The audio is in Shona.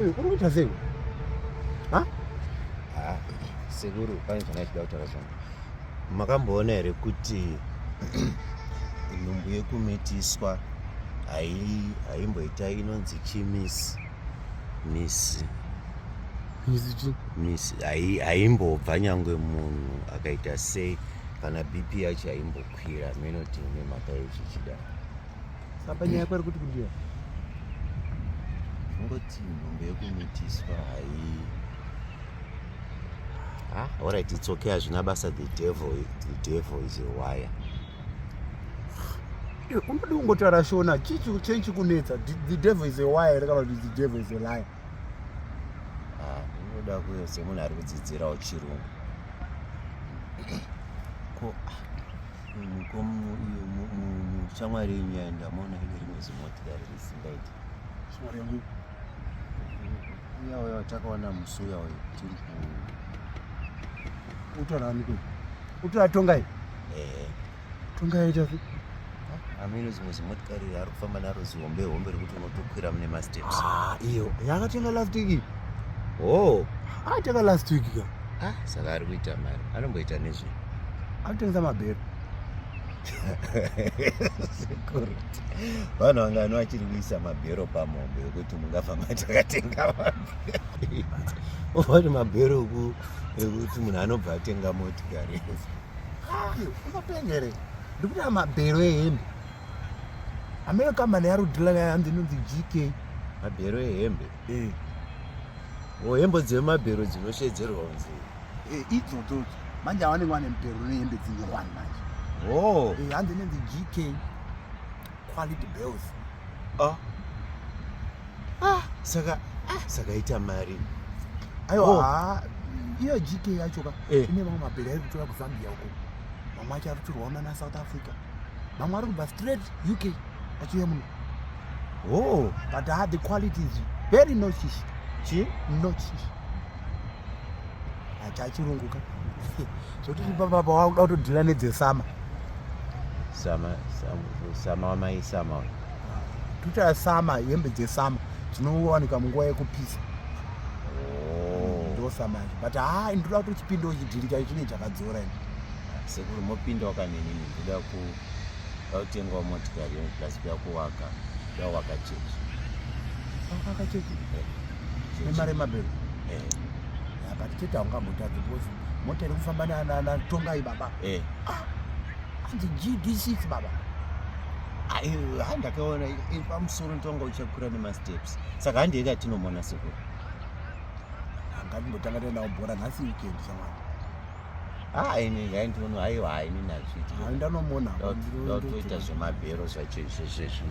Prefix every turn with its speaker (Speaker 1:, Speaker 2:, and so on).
Speaker 1: Kuri kuita sei? Ha? Ah,
Speaker 2: sekuru pane zvanga chida kutaura zvanga. Makamboona here kuti nhumbu yekumitiswa haimboita inonzi chimisi misi misi haimbobva nyangwe munhu akaita sei kana bp yacho haimbobva Pira meno tine mhaka yechichida. Sapa
Speaker 1: nyaya kwari kuti kundiwa.
Speaker 2: Ngoti nhumbi yekumitiswa hai. Ah, all right, it's okay. Hazvina basa the devil, the devil is a wire.
Speaker 1: Unodi kungotaura shona, chichi chenchi kunetsa. The devil is a wire, rekaba the devil is a liar. ah,
Speaker 2: unoda kuyo semunhu ari kudzidzirawo chirungu ko ah, ko shamwari yenyu yaenda maona ine rimwe zimotikari risingaiti shamwari
Speaker 1: yangu uya
Speaker 2: uya watakaona musi uya uyo tiri ku
Speaker 1: utora aniko utora tongai ehe tungaita se amino
Speaker 2: zimwe zimotikari ari kufamba naro zihombe hombe rekuti unotokwira mune masteps ah, iyo yakatenga
Speaker 1: last week oh ateka ah, last week ka ah, saka ari kuita
Speaker 2: mari anomboita nezve anotengesa
Speaker 1: mabhero sekuru
Speaker 2: vanhu vangani vachiri kuisa mabhero pamombe yekuti mungafa matakatenga mabhero ovati mabhero ekuti munhu anobva atenga motikari unopenga
Speaker 1: here ndikuda mabhero ehembe amene kambani yarudhila yanzi inonzi gk mabhero ehembe
Speaker 2: eh. o oh, hembo dzemabhero dzinoshedzerwa kunzi eh, idzodzo
Speaker 1: manje awanenge wane mubhero nehembe dzine one manje oh. eh, hanzi inonzi gk quality bills
Speaker 2: ah ah saka ah saka ita mari ayo oh.
Speaker 1: ah iyo GK yacho ka eh. ine mamwe mabhera ari kutora kuZambia uko mamwe acho ari kutorwa na South Africa mamwe ari kubva straight UK achiuya muno oh but ah the quality is very nochish chi nochish achachirunguka zvotiri papa pawakuda kutodhila nedzesama
Speaker 2: sama sama wamai sama uyu tuta
Speaker 1: sama hembe dzesama dzinowanika munguva yekupisa oh. ndosama izvo but haa ndinoda kuti uchipinde uchidhirika chine chakadzora ini sekuru
Speaker 2: mopinda wakanenini ndoda ku vautengwa motikari plus kuya kuwaka kuya waka chechi
Speaker 1: waka chechi nemari yemabhero eh. ah, but tete haungamutadzi because mota iri kufamba natongai baba eh. ah, anzi gd6 baba handakaona
Speaker 2: pamusoro ntonga uchakura nemasteps saka handii katinomona sekuru ngatimbotanga
Speaker 1: taendawo bhora nhasi weekend shamwari hainindinono
Speaker 2: aiwa haini nazvitndanomona zvemabhero zvacho izvezvezvi